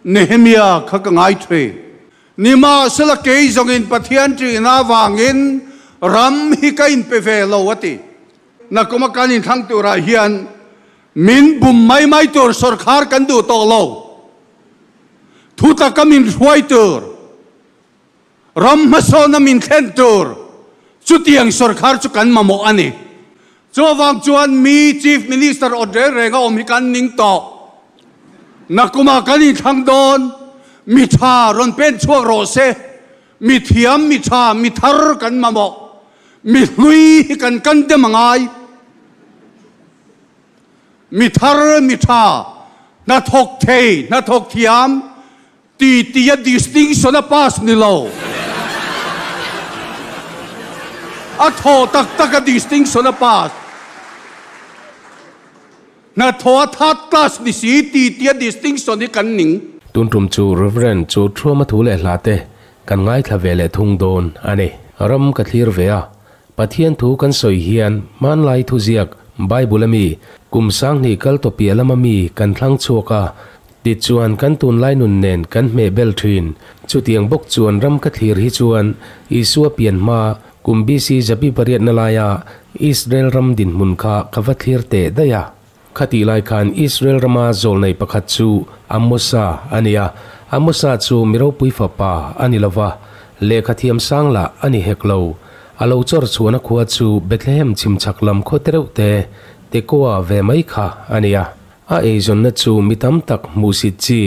Nehemia kha ka ngaihthu. Nimahsela kei zawngin Pathian ṭihna avangin ram hi ka inpe ve lo a ti. Na kawma kan inthlâng turah hian min bum mai mai tur sawrkhar kan duh tawh lo. Thu taka min hruai tur Ram hmasawnna min thlen tur chutiang sawrkar chu kan mamawh a ni. Chuvang chuan mi Chief Minister awt reng reng a awm hi kan ning tawh. Nakumah kan inthlang dawn, mi tha rawn pen chhuak rawh se, mi thiam, mi tha, mi thar kan mamawh, mi hlui hi kan kan dem a ngai. Mi thar, mi tha, hnathawk thei, hnathawk thiam, Titian distinction a pass ni lo. A thaw tak tak a distinction a pass. Hnathawh a third class ni si titian distinction hi kan ning. Tun tum chu Rev. Chu thuama thu leh hla te kan ngaithla ve leh thung dawn a ni. Ram ka thlir ve a, Pathian thu kan sawi hian hmanlai thuziak Bible-a mi kum sanghnih kal tawpia lama mi kan thlang chhuak a, tichuan kan tunlai nun nen kan hmeh bel thin. Chutiang bawk chuan ram ka thlir hi chuan Isua pian hma kum BC zapi pariatna laia Israel ram dinhmun kha ka va thlir teh daih a. Khatih lai khan Israel rama zawlnei pakhat chu Amosa a ni a, Amosa chu mi ropui fapa a ni lova, lehkha thiamsang lah a ni hek lo. A lo chawr chhuahna khua chu Bethlehem chhimchhak lam khaw te reuh te, Tekoa ve mai kha a ni a. A eizawnna chu mi tam tak hmuhsit chi,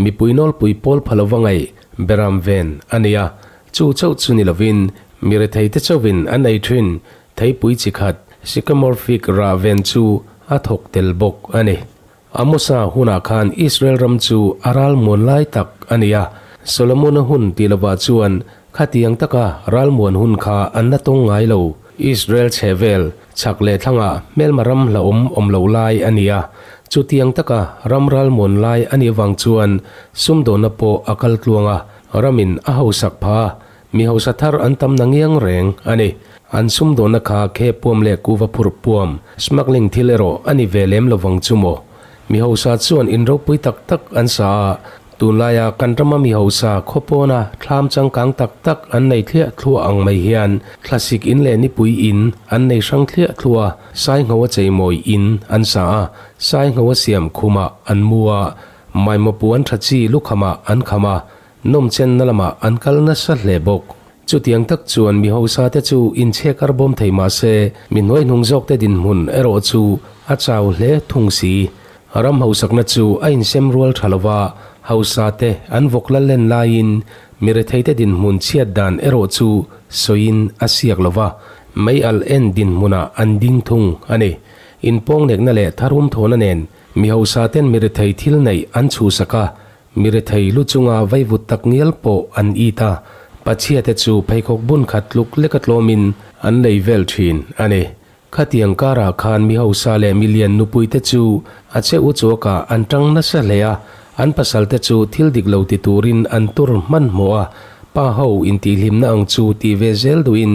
mipui nawlpui pawl pha lova ngaih be ram ven a ni a. Chu chauh chu ni lovin mi rethei te chauhin an ei thin. Theipui chi khat Sycamorephic rah ven chu a thawk tel bawk a ni. Amosa hunah khan Israel ram chu a ral muan lai tak a ni a, Solomona hun tih lovah chuan khatiang taka ral muan hun kha an la tawng ngai lo. Israel chhehvel, chhak leh thlangah hmelma ram hlauhawm awm loh lai a ni a, chutiang taka ram ral muan lai a nih avang chuan sumdawhna pawh a kal tluang a, ramin a hausak pha a, Mi hausa thar an tam na ngiang reng a ni. An sumdawna kha khepuam leh kuva phurh puam, smuggling thil erawh a ni ve lem lo vang chu maw. Mi hausa chuan in ropui tak tak an sa a, tunlaia kan rama mi hausa khaw pawna thlam changkang tak tak an nei thliah thluah ang mai hian thlasik in leh nipui in an nei hrang thliah thlua, saingho a cheimawi in an sa a, saingho a siam khumah an mu a, maimapuan tha chi lukhamah an kham a, Nawmchenna lamah an kal nasa hle bawk. Chutiang tak chuan mi hausa te chu inchhe kar bawm thei mah se, mi hnuai hnung zawk te dinhmun erawh chu a chau hle thung si. Ram hausakna chu a insem rual tha lova, hausa te an vawk lal len laiin mi rethei te dinhmun chhiat dan erawh chu sawiin a siak lova, mei alh en dinhmuna an ding thung a ni. Inpawng nekna leh tharum thawhna nen mi hausa ten mi rethei thil neih an chhusak a, Mi rethei lu chunga vaivut tak ngial pawh an it a, pa chhiate chu pheikhawk bun khat tluk leka tlawmin an lei vel thin a ni. Khatiang karah khan mi hausa leh mi lian nupuite chu a che u chuakah an ṭang nasa hle a, an pasalte chu thil dik lo ti turin an tur hmanhmawh a, pa ho intihhlimna ang chu tih ve zel duhin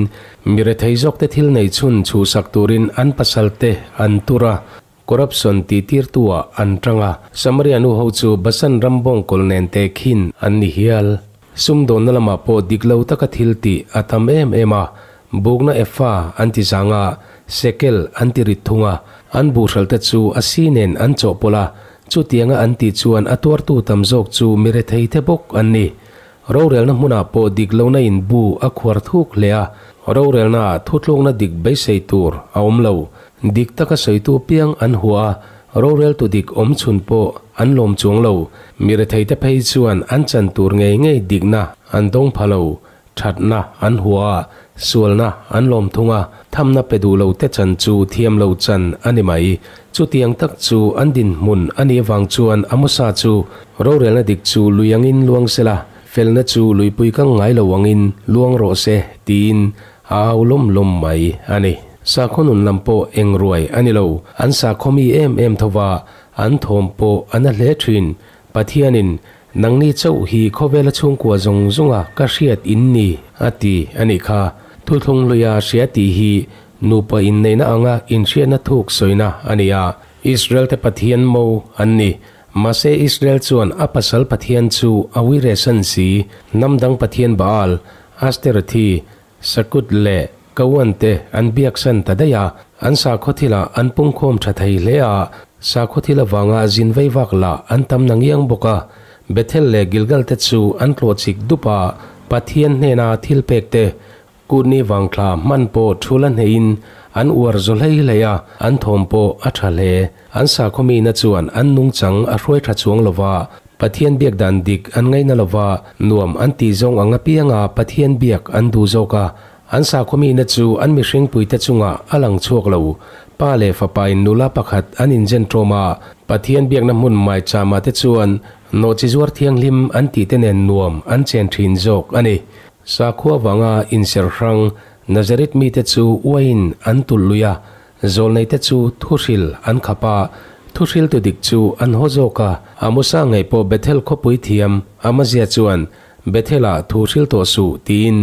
mi rethei zawkte thil nei chhun chhuhsak turin an pasalte an tur a. Corruption tih tirtuah an tang a, Samaria nu ho chu Basan ram bawngkawl nen te khin an ni hial. Sumdawnna lamah pawh dik lo taka thil tih a tam em em a, bukna epha an ti zang a, shekel an ti rit thung a, an buhralte chu a si nen an chawhpawlh a, chutianga an tih chuan a tuartu tam zawk chu mi rethei te bawk an ni. Rorelna hmunah pawh dik lohna in bu a khuar thuk hle a, rorelna ah thutlukna dik beisei tur a awm lo. Dik taka sawitu piang an hua a, roreltu dik awm chhun pawh an lawm chuang lo. Mi retheite phei chuan an chan tur ngei ngei dikna an dawng pha lo. Thatna an hua a, sualna an lawm thung a, thamna pe duh lo te chan chu thiam lo chan a ni mai. Chutiang tak chu an dinhmun a nih avang chuan a mawsa chu rorelna dik chu lui angin luang se la, felna chu luipui kang ngai lo angin luang rawh se tiin a au lawm lawm mai a ni. Sakhaw nun lam pawh eng ruai a ni lo, an sakhaw mi em em tho va an thawm pawh a na hle thin. Pathianin Nangni chauh hi khawvela chhungkua zawng zawnga ka hriat in ni a ti a nih kha. Thuthlung luia hria tih hi nupa inneihna anga inhriatna thuk sawina a ni a. Israelte Pathian mo an ni. Mahse Israel chuan a pasal Pathian chu a Wire San si, hnam dang Pathian Baal, Asterothy, Sakut leh Kawan te an biaksan ta daih a, an sakhawthilah an pungkhawm tha thei hle a, sakhaw-thil avanga zin vei vak lah an tam na ngiang bawk a, Bethel leh Gilgal te chu an tlawh chik dup a, Pathian hnena thil pek te, kutni vangthla hman pawh thu la hneihin an uar zawh hlei hlei a, an thawm pawh a tha hle. An sakhaw mina chuan an nungchang a hruai tha chuang lova, Pathian biak dan dik an ngaina lova nuam an tih zawng ang apianga Pathian biak an duh zawk a. An sakhuamina chu an mihring puite chungah a lang chhuak lo. Pa leh fapain nula pakhat an inzen tawm a, Pathian biakna hmun mai chama te chuan Nawhchizuar Thianghlim an tihte nen nuam an chen thin zawk a ni. Sakhua vanga inserhrang Nazareth mite chu uaiin an tulh lui a, Zawlneite chu thuhril an khap a, thuhriltu dik chu an haw zawk a. A Musa ngaih pawh Bethel khawpui thiam a mazia chuan Bethel-ah thu hril tawh suh tiin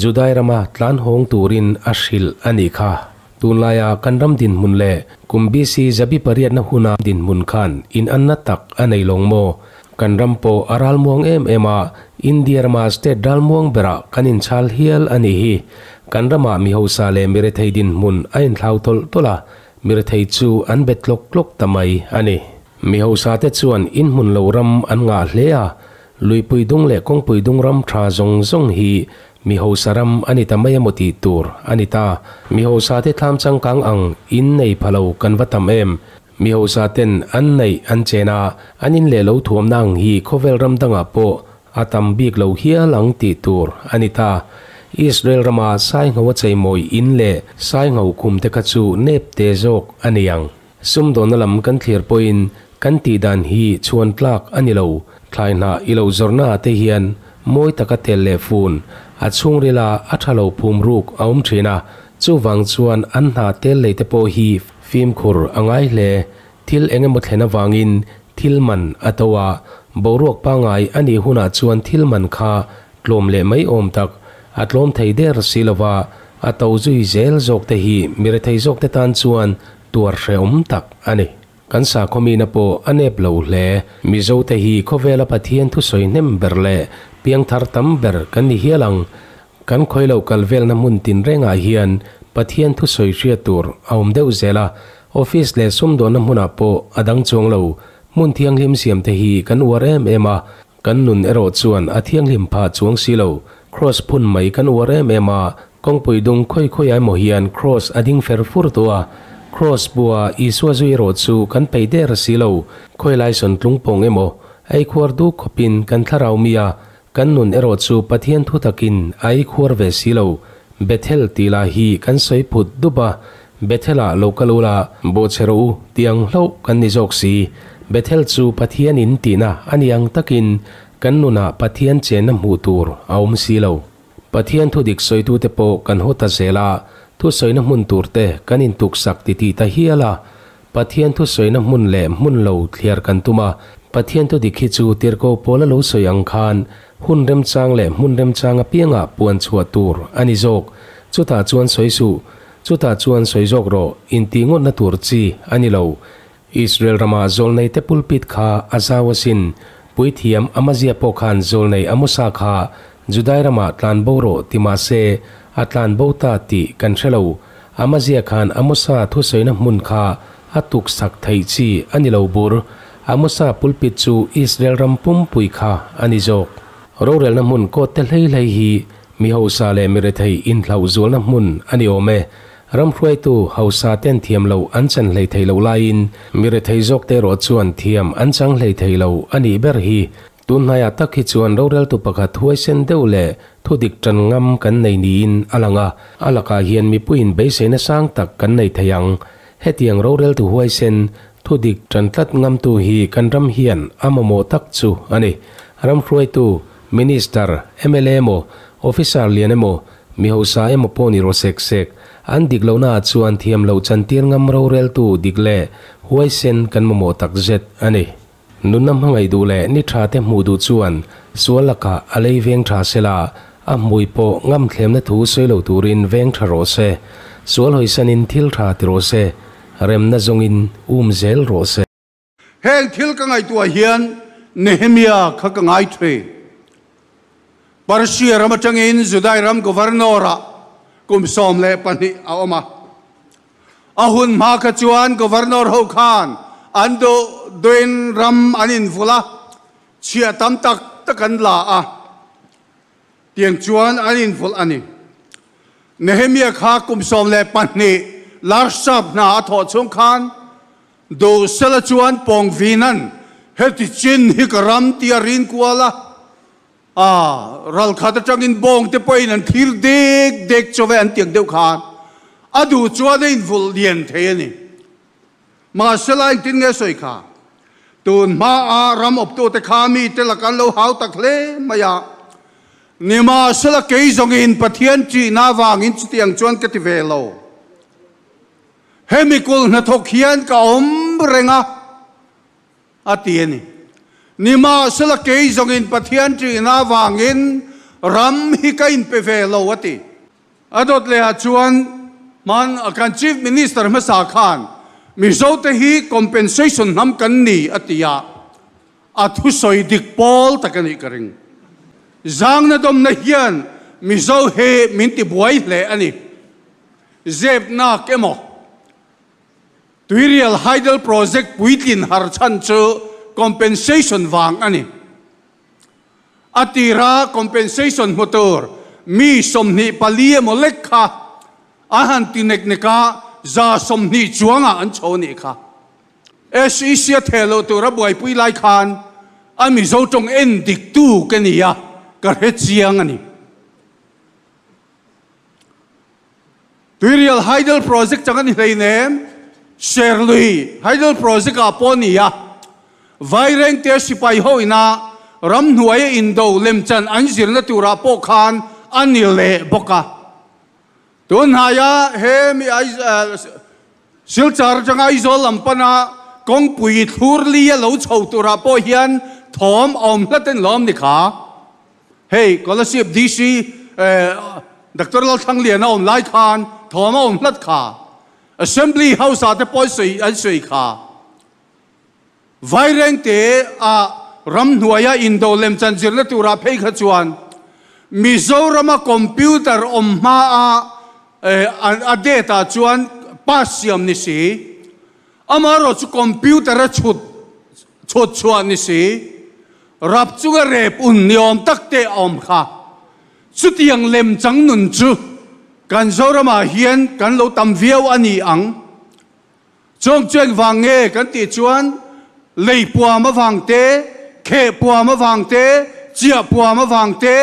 Judai rama tlan hawng turin a hrilh a nih kha. Tunlaia kan ram dinhmun leh kum BC zabi pariatna huna dinhmun khan inanna tak a nei lawng maw? Kan ram pawh a ral muang em em a, India rama state ral muang berah kan in chhal hial a nih hi. Kan ramah mi hausa leh mi rethei dinhmun a in hlau tawlh tawlh a, mi rethei chu an be tlawk tlawk ta mai a ni. Mi hausa te chuan in hmun lo ram an ngah hle a, Luipui Dung leh Kawngpui Dung ram tha zawng zawng hi mi hausa ram a ni ta mai emaw tih tur a ni ta. Mi hausa te thlam changkang ang in nei pha lo kan va tam em. Mi hausa ten an naih an chen a, an in leh lo thuamna ang hi khawvel ram dangah pawh a tam bik lo hial ang tih tur a ni ta. Israel rama saingho a cheimawi in leh saingho khum te kha chu nep te zawk a ni ang. Sumdawnna lam kan thlir pawhin kan tih dan hi chhuan tlak a ni lo. Thlai hnah i lo zawrhna ah te hian mawi taka tel leh fun a chhungrila a tha lo phum ruk a awm thin a, chuvang chuan an hna tel lei te pawh hi Fimkhur a ngai hle, thil eng emaw thlen avangin thil man a to a, boruak pangai a nih hunah chuan thil man kha tlawm leh mai awm tak, a tlawm thei der si lova, a to zui zel zawk te hi mi rethei zawk te tan chuan tuar hrehawm tak a ni. Kan sakhawmina pawh a nep lo hle, Mizo te hi khawvela Pathian thusawi hnem ber leh piangthar tam ber kan ni hial ang, Kan khawilo kal velna hmun tinrengah hian Pathian thusawi hriat tur a awm deuh zel a, office leh sumdawnna hmunah pawh a dang chuang lo. Hmun thianghlim siam te hi kan uar em em a, kan nun erawh chuan a thianghlim phah chuang si lo. Kraws phun mai kan uar em em a, kawngpui dung khawi khawiah emaw hian kraws a ding fer fur tawh a, kraws bua Isua zui erawh chu kan peih der si lo. Khawi laisawn tlung pawng emaw, eikhuar du khawpin kan thlarau mi a, Kan nun erawh chu Pathian thu takin a i khuar ve si lo. Bethel tih lah hi kan sawi phut dup a, Bethel-ah lo kal u la, bo che rawh u tih ang hlauh kan ni zawk si. Bethel chu Pathian in tihna a ni ang takin kan nunah Pathian chenna hmuh tur a awm si lo. Pathian thu dik sawitute pawh kan haw ta zel a, thu sawina hmun turte kan intuksak ti ti ta hial a, Pathian thu sawina hmun leh hmun lo thliar kan tum a, Pathian thu dik hi chu tirhkoh pawla lo sawi ang khan hun remchang leh hmun remchang apianga puan chhuah tur a ni zawk. Chutah chuan sawi suh, chutah chuan sawi zawk rawh inti ngawtna tur chi a ni lo. Israel rama zawlneite pulpit kha a zau asin, puithiam a mazia pawh khan zawlnei a mu sa kha Judai ramah tlan bo rawh ti mah se, a tlan bo ta tih kan hre lo. A mazia khan a Musa thusawiina hmun kha a tuksak theih chi a ni lo bur. A Musa pulpit chu Israel ram pumpui kha a ni zawk. Rorelna hmun kawtte hleihhlei hi mi hausa leh mi rethei inhlauh zualna hmun a ni awm e. Ram hruaitu hausa ten thiam loh an chan hlei thei loh laiin mi rethei zawkte erawh chuan thiam an chang hlei thei lo a nih ber hi Tun hnaiah tak hi chuan roreltu pakhat huaisen deuh leh thudik tan ngam kan nei niin a lang a, a lakah hian mipuiin beiseina sang tak kan nei thei ang. Hetiang roreltu huaisen, thudik tan tlat ngamtu hi kan ram hian a mamawh tak chu a ni. Ramhruaitu, Minister, mla emaw, Officer lian emaw, mihosa emaw pawh ni rawh sek sek, an dik lohna ah chuan thiam loh chantir ngam roreltu dik leh huaisen kan mamawh takzet a ni. Nunna hmangaih duh leh ni tha te hmuh duh chuan sual lakah a lei veng tha se la, a hmui pawh ngam thlemna thu sawi lo turin veng tha rawh se. Sual hawi sanin thil tha ti rawh se. Remna zawngin um zel rawh se. Heng thil ka ngaihtuah hian Nehemia kha ka ngai thei. Persia ram atangin Judai ram governor-a kum sawm leh pahnih a awm a, A hun hma kha chuan Governor ho khan an duh duhin ram an invulh a, chhia tam tak tak an la a tiang chuan an invulh a ni. Nehemiah kha kum sawm leh pahnih Larshab hna a thawh chung khan duh sela chuan pawng vinan, Hetichin hi ka ram, tiah a rin kual a, A ral khat atangin bawngte pawhin an thlir dek dek chaw ve an tiang deuh khan a du chuan a invulh lian thei a ni. Mahsela engtin nge sawi kha? Tun hmaa ram awptute kha mite lak an lo hau tak hle mai a, nimahsela kei zawngin Pathian ṭihna avangin chuti ang chuan ka ti ve lo. Hemi kul hnathawk hian ka awm reng a. a ti a ni. Nimahsela kei zawngin Pathian ṭihna avangin ram hi ka inpe ve lo a ti. A dawt leh ah chuan hman kan Chief Minister hmasa khan Mizo te hi compensation hnam kan ni a ti a, a thu sawi dik pawl tak a nih ka ring. Zangna dawmna hian Mizo he min ti buai hle a ni. Zep nak emaw. Tuirial Hydel Project puitlin harchhan chu compensation vang a ni. A tira compensation hmu tur mi sawmhnih pali emaw lek kha a han ti nek nek a, za sawmhnih chuangah an chho nih kha. SEC a theh loh tur a buaipui lai khan a Mizo tawng en dik tu ke nia ka hre chiang a ni. Tuirial Hydel Project chang a ni hleinem, Serlui Hydel Project ah pawh a ni a, Vaireng te sipai ho ina ramhnuai a indo lemchan an zirna turah pawh khan a ni leh bawk a. Tunhnaia he mi ai Silchar atanga Aizawl lam pana kawngpui i thlur li a lo chho turah pawh hian thawm a awm hlat en lo am ni kha. Hei Kolasib DC Doctor Lalthangliana awm lai khan thawm a awm hlat kha. Assembly House-ah te pawh an sawi kha. Vairengte ah ramhnuaia indoh lem chanzirna tura phei kha chuan Mizorama computer awm hma a a date ah chuan pass siam ni si. Amaherawh chu computer a chhut chhut chhuah ni si. Rap chunga rep un ni awm tak te a awm kha. Chutiang lem changnun chu kan Zorama hian kan lo tam viau a ni ang. Chawngchuan vang nge kan tih chuan lei puam avang te, kheh puam avang te, chiah puam avang te,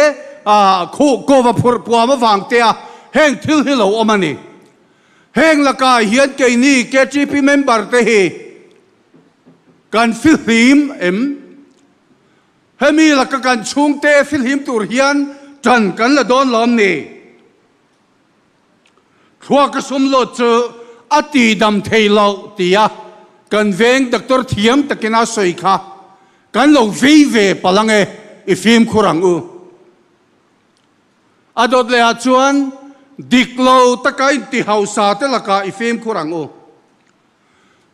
ah khuh kova phurh puam avang te a heng thil hi lo awm a ni. Heng lakah hian keini KTP member te hi kan fihlim em? Hemi laka kan chhungte fihlim tur hian tan kan la dawn lawm ni. Thlua ka sum lo chu a tihdam thei lo tia kan veng doctor thiam takin a sawi kha kan lo vei ve palh ang e, i fimkhur ang u. A dawt leh ah chuan dik lo taka inti hausa te lakah i fimkhur ang u.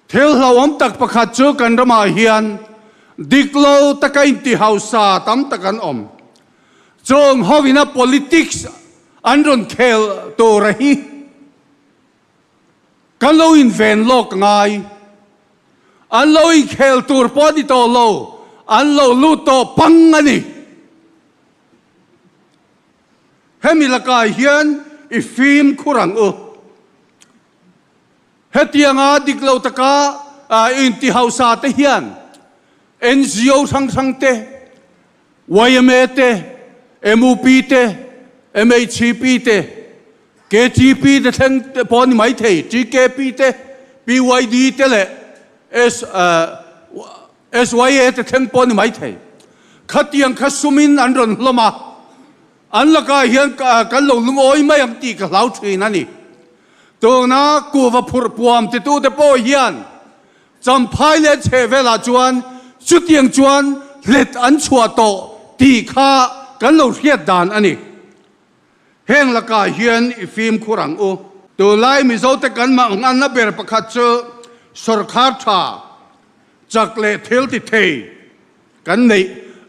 Thil hlauhawm tak pakhat chu kan ramah hian dik lo taka inti hausa tam tak an awm. Chawng ho ina politics an rawn khel tura hi kan lo inven lawk ngai. An lo inkhel tur pawh a ni tawh lo, an lo lut tawh pang a ni. Hemi lakah hian i fim khur ang u. Hetianga dik lo taka inti hausa te hian NGO hrang hrang te, yma te, MUP te, MHCP te, KTP te thleng te pawh a ni maithei, TKP te, PYD te leh SYA te thleng pawh a ni maithei. Khatiang kha sumin an rawn hlawm a. An lakah hian kan lo lungawi mai ang tih ka hlau thin a ni. Tuna kuva phurh puam titu te pawh hian Champhai leh chhe velah chuan chutiang chuan hlet an chhuah tawh tih kha kan lo hriat dan a ni. Heng lakah hian i fimkhur ang u. Tunlai Mizote kan mah nganna ber pakhat chu sorkar tha, chak leh thil ti thei Kan neih,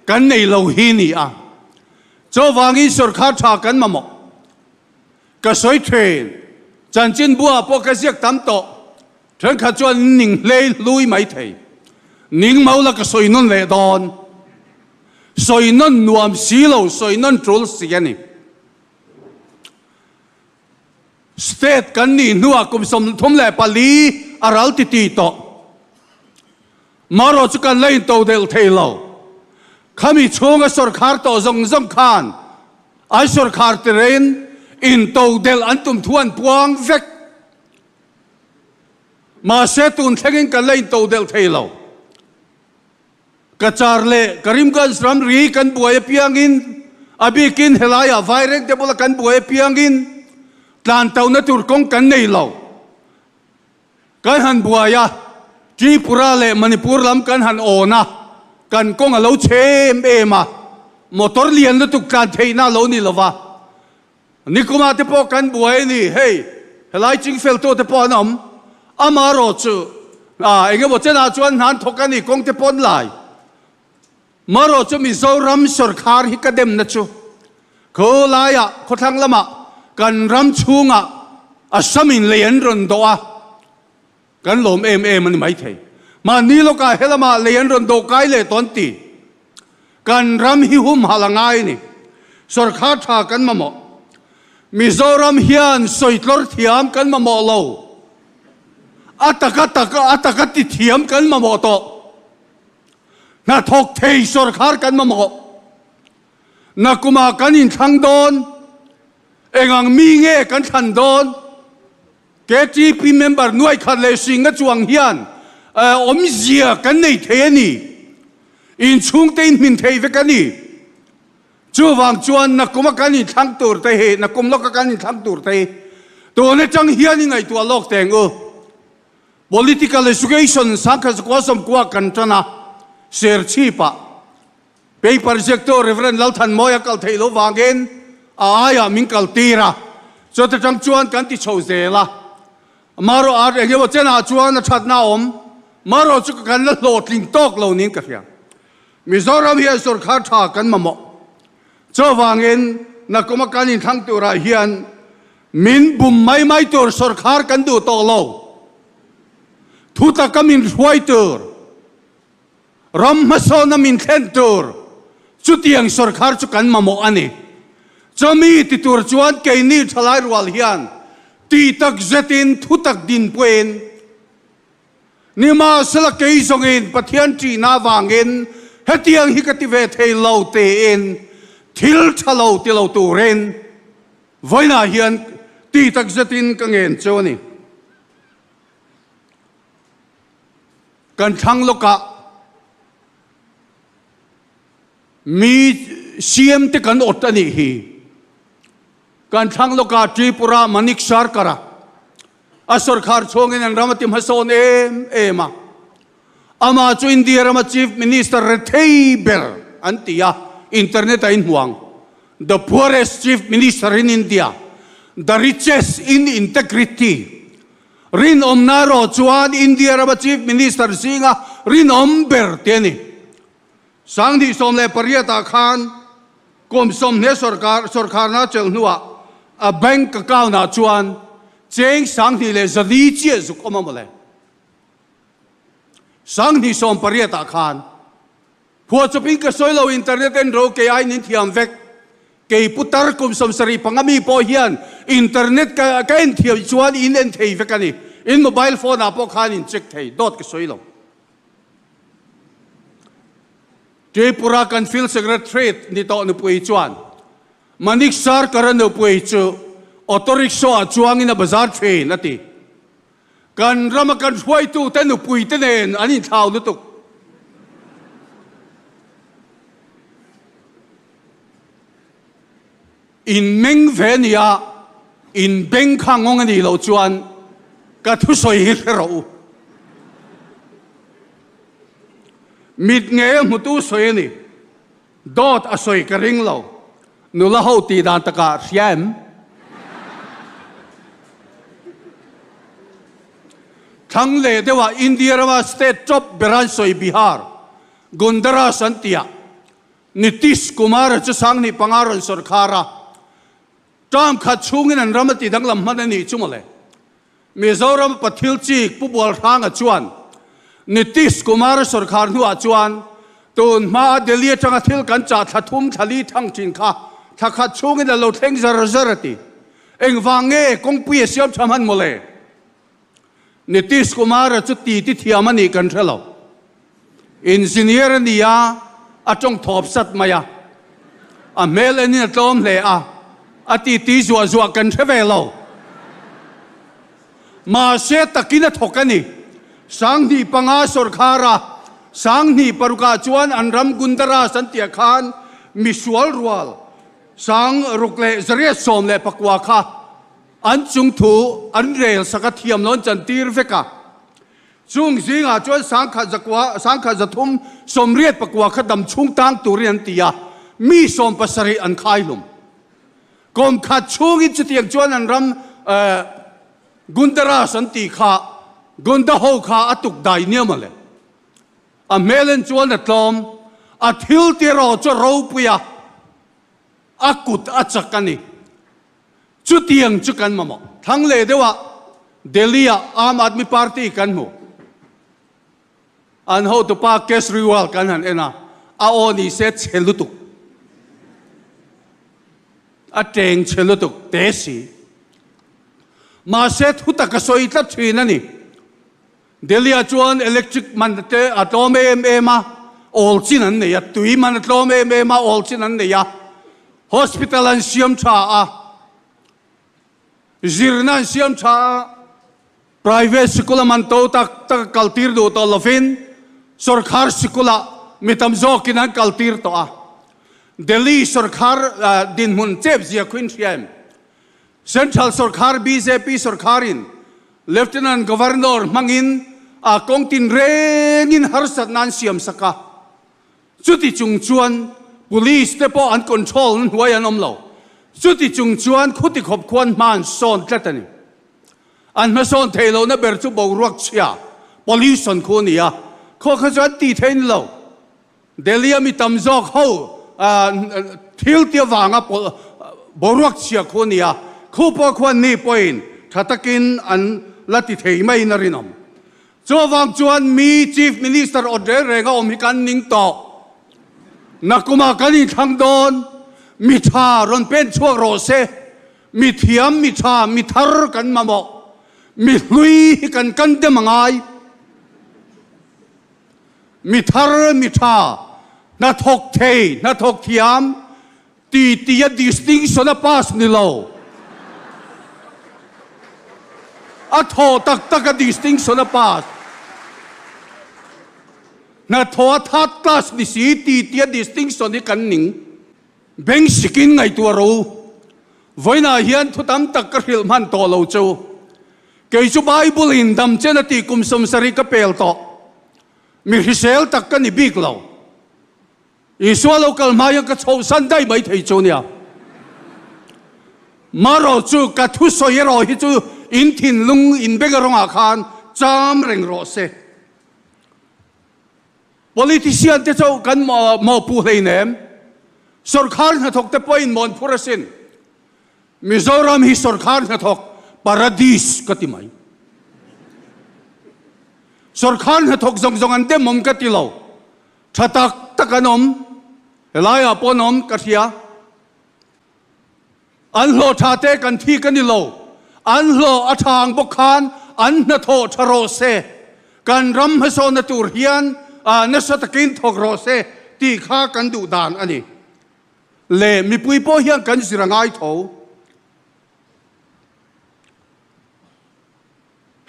kan nei lo hi ni a, chuvang Isur kha tha kan mamawh. Ka sawi thin, chanchin bua pawh ka ziak tam tawh, thenkhat chuan in ning hlei hlui mai thei. Ning mo la ka sawi nawn leh dawn. Sawi nawn nuam si lo, sawi nawn tul si a ni. State kan nih hnuah kum sawmthum leh pali a ral ti ti tawh. Marawh chu kan la into delh thei lo. Khami chhunga sawrkhar tawh zawng zawng khan an sawrkhar tirhein into delh an tum thu an puang vek. Mahse tun thlengin kan la into delh thei lo. Ka char leh Karimganj ram ri kan buai apiangin a bikin helaiah vairengte bula kan buai apiangin tlan tawna tur kawng kan nei lo. Kan han buai a, Tripura leh Manipur lam kan han awn a, kan kawng a lo chhe em em a, motor lian lutuk tlan theihna lo ni lova, Nikumah te pawh kan buai a ni. Hei, helai ching fel tawh te pawh an awm. Amah rawh chu, ah, eng emaw chenah chuan hnan thawk a ni, kawng te pawn lai. Mah rawh chu Mizoram sorkar hi ka demna chu, kho laiah, khawthlang lamah, kan ram chhungah a hramin lei an rawn doh a. Kan lawm em em a ni maithei. Hmaan ni lawkah helamah lei an rawn dawh kai leh tawh an ti. Kan ram hi humhal a ngai a ni. Sorkar tha kan mamawh. Mizoram hian sawitlawr thiam kan mamawh lo. A taka tak a taka ti thiam kan mamawh tawh. Hnathawk thei sorkar kan mamawh. Nakumah kan inthlang dawn. Engang mi nge kan thlan dawn? KTP member Nuaikhat leh Hringa chuang hian awmzia kan nei thei a ni. Inchhungte inhmin thei vek a ni. Chuvang chuan nakawma kan inthlang tur te hi, nakawm lawka kan inthlang tur te hi tun atang hian i ngaihtuah lawk teng u. Political Education Sangkhatzakualsawmkuah kan tan a, serchhipah. Paper ziaktu Rev. Lalthanmawii a kal theih loh vangin a aiah min kal tir a, chuta tang chuan kan ti chho zel a. Mah rawh art eng emaw chenah chuan a thatna a awm, mah rawh chu ka kan la hlawh tling tawk lo niin ka hria. Mizoram hian sawrkar tha kan mamawh, chu vangin Nakkuma kan inthlang turah hian min bum mai mai tur sawrkar kan duh tawh lo, thutak ka min hruai tur, Ram hmasawn a min thlen tur chutiang sawrkar chu kan mamawh a ni. Chumi ti tur chuan keini thalai rual hian ti tak zetin thutak din puiin nimahsela kei zawngin Pathian ṭihna avangin hetiang hi ka ti ve thei lo tiin thil ṭha lo ti lo turin vawiinah hian ti tak zetin ka ngen chu a ni. Kan thlang lawkah mi siam te kan awt a nih hi. Kan thlang lawkah Tripura Manik Sarkar-a a sawrkhar chhungin an ram a ti hmasawn em em a. Amah chu India rama Chief Minister rethei ber an ti a, internet a inhmuang. The poorest Chief Minister in India, the richest in integrity, Rinawmna erawh chuan India rama Chief Minister zinga rinawm ber te a ni. Sang hnih sawm leh pariat ah khan kum sawmhnih sawrkar sawrkharna cheu hnuah a bank account ah chuan cheng sang hnih leh zali chiah zuk awm a maw le. Sang hnih sawm pariat ah khan Khua chawpin ka sawi lo internet enro kei aiin in thiam vek. Kei putar kum sawm sarih panga mi pawh hian internet ka ka en thiam chuan in en thei vek a ni. In mobile phone ah pawh khan in check thei dawt ka sawi lo. Tripura kan field secretariat ni tawh nupui chuan Manik Sarkar a nupui chu auto rickshaw ah chuangin a bazar thin a ti. Kan rama kan hruaitute nupuite nen an inthlau lutuk. Inmeng ve ni a, inbeng kha ngawng a nih loh chuan ka thusawi hi hre rawh u. Mitngeia hmutu sawi a ni. Dawt a sawi ka ring lo. Nula ho tih dan takah hria em? Thlang leh deuha India rama state tawp ber an sawi Bihar, Gundaras an ti a. Nitish Kumar-a chu sanghnih panga rawn sawrkhar a. Term khat chhungin an ram a ti danglam hman a nih chu maw le. Mizoram pa thil chik Pu Bualhranga chuan Nitish Kumar sawrkhar hnuah chuan tun hmaa Delhi atanga thil kan chah thla thum thla li thang thin kha thla khat chhungin a lo thleng zar zar a ti. Engvang nge kawngpui a siam tha hman maw le? Nitish Kumar-a chu titi thiam a nih kan hre lo. Engineer a ni a, a tawng thawp sat mai a. A hmel enin a tlawm hle a, a titi zuah zuah kan hre ve lo. Mahse takin a thawk a ni. Sanghnih panga sawrkhara Sanghnih parukah chuan an ram Gundaras an tih khan misual rual sang ruk leh zariat sawm leh pakua kha, An chung thu an rel sak a thiam lawn chan tir vek a. Chung zingah chuan sangkhat zakua, sangkhat zathum sawmriat pakua kha dam chhung tang turin an ti a, mi sawm pasarih an khai hlum. Kawm khat chhungin chutiang chuan an ram eh, Gundaraj an tih kha, Gonda ho kha a tuk dai nia maw le. A hmelen chuan a tlawm, a thil tiraw chu a ropui a, a kut a chak a ni. Chutiang chu kan mamawh. Thlang leh deuhah Delhi-ah Aam Aadmi Party kan hmu. An hotu pa Kesriwal kan han en a, a aw ni se chhe lutuk, a cheng chhe lutuk te si. Mahse thutak a sawi tlat thin a ni. Delhi-ah chuan electric hmanhte a tlawm em em a, awl chin an nei a, tui hman a tlawm em em a, awl chin an nei a, hospital an siam tha a, zirna an siam tha a, private sikul a man to tak tak a kaltir duh tawh lovin sawrkar sikulah mi tam zawkin an kaltir tawh a, Delhi sawrkar dinhmun chep zia khuin hria em? Central sawrkar bjp sawrkarin Lieutenant Governor hmangin a kawng tin rengin harsatna an siam sak a, chuti chung chuan Police te pawh an control na hnuai an awm lo. Chuti chung chuan Khutikhawp khua an hma an sawn tlat a ni. An hma sawn thei lohna ber chu boruakchhia, pollution khu a ni a, khua kha chu an ti theih ni lo. Delhi-a mi tam zawk ho thil ti avanga pawlh boruak chhia khu a ni a, khu pawh khuan ni pawhin tha takin an la ti thei maiin a rin awm. Chu avang chuan mi Chief Minister awt reng reng a awm hi kan ning tawh. Nakumah kan inthlang dawn, mi tha rawn pen chhuak rawh se, mi thiam, mi tha, mi thar kan mamawh, mi hlui hi kan kan dem a ngai. Mi thar mi tha, hnathawk thei, hnathawk thiam, ti ti a disting sawn a pass ni lo. A tho tak tak a disting sawn a pass. Hnathawh a third class ni si ti ti a disting sawn hi kan ning. Beng sikin ngaihtuah ro. Vawiinah hian thutam tak ka hrilh hman tawh lo chu. Kei chu Bible in damchen a tih kum sawm sarih ka pel tawh. Mi hrisel tak ka ni bik lo. Isua lo kal hma hian ka chhohsan daih mai thei chu nia. Marawh chu ka thu sawi erawh hi chu in thinlung in beng erawh ah khan cham reng rawh se. Politician te chauh kan mawhpuh hleinem, sawrkhar hnathawk te pawhin mawn phur asin. Mizoram hi sawrkhar hnathawk paradis ka ti mai. Sawrkhar hnathawk zawng zawng an demawm ka ti lo. Tha tak tak an awm, helaiah pawh an awm ka hria. An hlawh tha te kan thi ka ni lo. An hlawh a tha ang bawk khan an hnathawh tha rawh se. Kan ram hmasaw na tur hian nasa takin thawk rawh se tih kha kan duh dan a ni. Leh mipui pawh hian kan zir a ngai tho.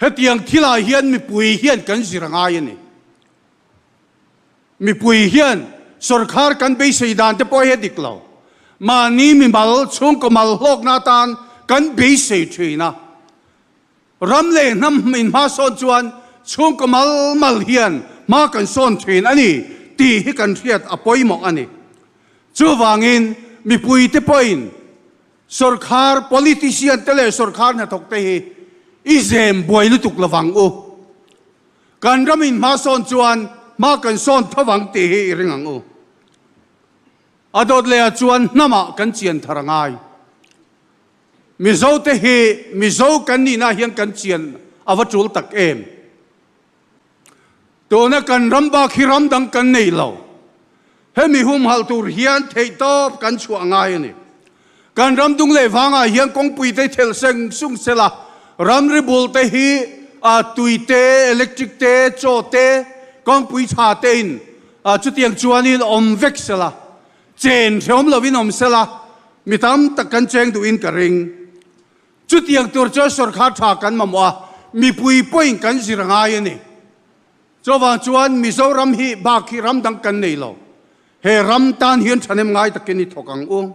Hetiang thilai hian mipui hian kan zir a ngai a ni. Mipui hian sorkar kan beisei dan te pawh hi a dik lo. Mahni mimal, chhungkaw mal hlawkna atan kan beisei thin a. Ram leh hnam inhma sawn chuan chhungkaw malmal hian hma kan sawn thin a ni tih hi kan hriat a pawimawh a ni. Chuvangin mipuite pawhin sorkar, politician te leh sorkar hnathawk te hi i zem buai lutuk lo vang u. Kan ram inhma sawn chuan hma kan sawn tho vang tih hi i ring ang u. A dawt leh ah chuan hnamah kan chian thar a ngai. Mizo te hi Mizo kan nih na hian kan chian a va tul tak em. Tuna kan ram bak hi ram dang kan nei lo. Hemi humhalh tur hian theih tawp kan chhuah ngai a ni. Kan ram dung leh vang ah hian kawngpui te thel seng sung se la, ram ri bul te hi ah tui te, electric te, chaw te, kawngpui tha te in ah chutiang chuan in awm vek se la. Chen hreawm lovin awm sela mi tam tak kan cheng duhin ka ring. Chutiang tur chuan sorkar tha kan mamawh a, mipui pawhin kan zir ngai a ni. Chuvang chuan Mizoram hi bak hi ram dang kan nei lo. He ram tan hian thahnem ngai takin i thawk ang ung.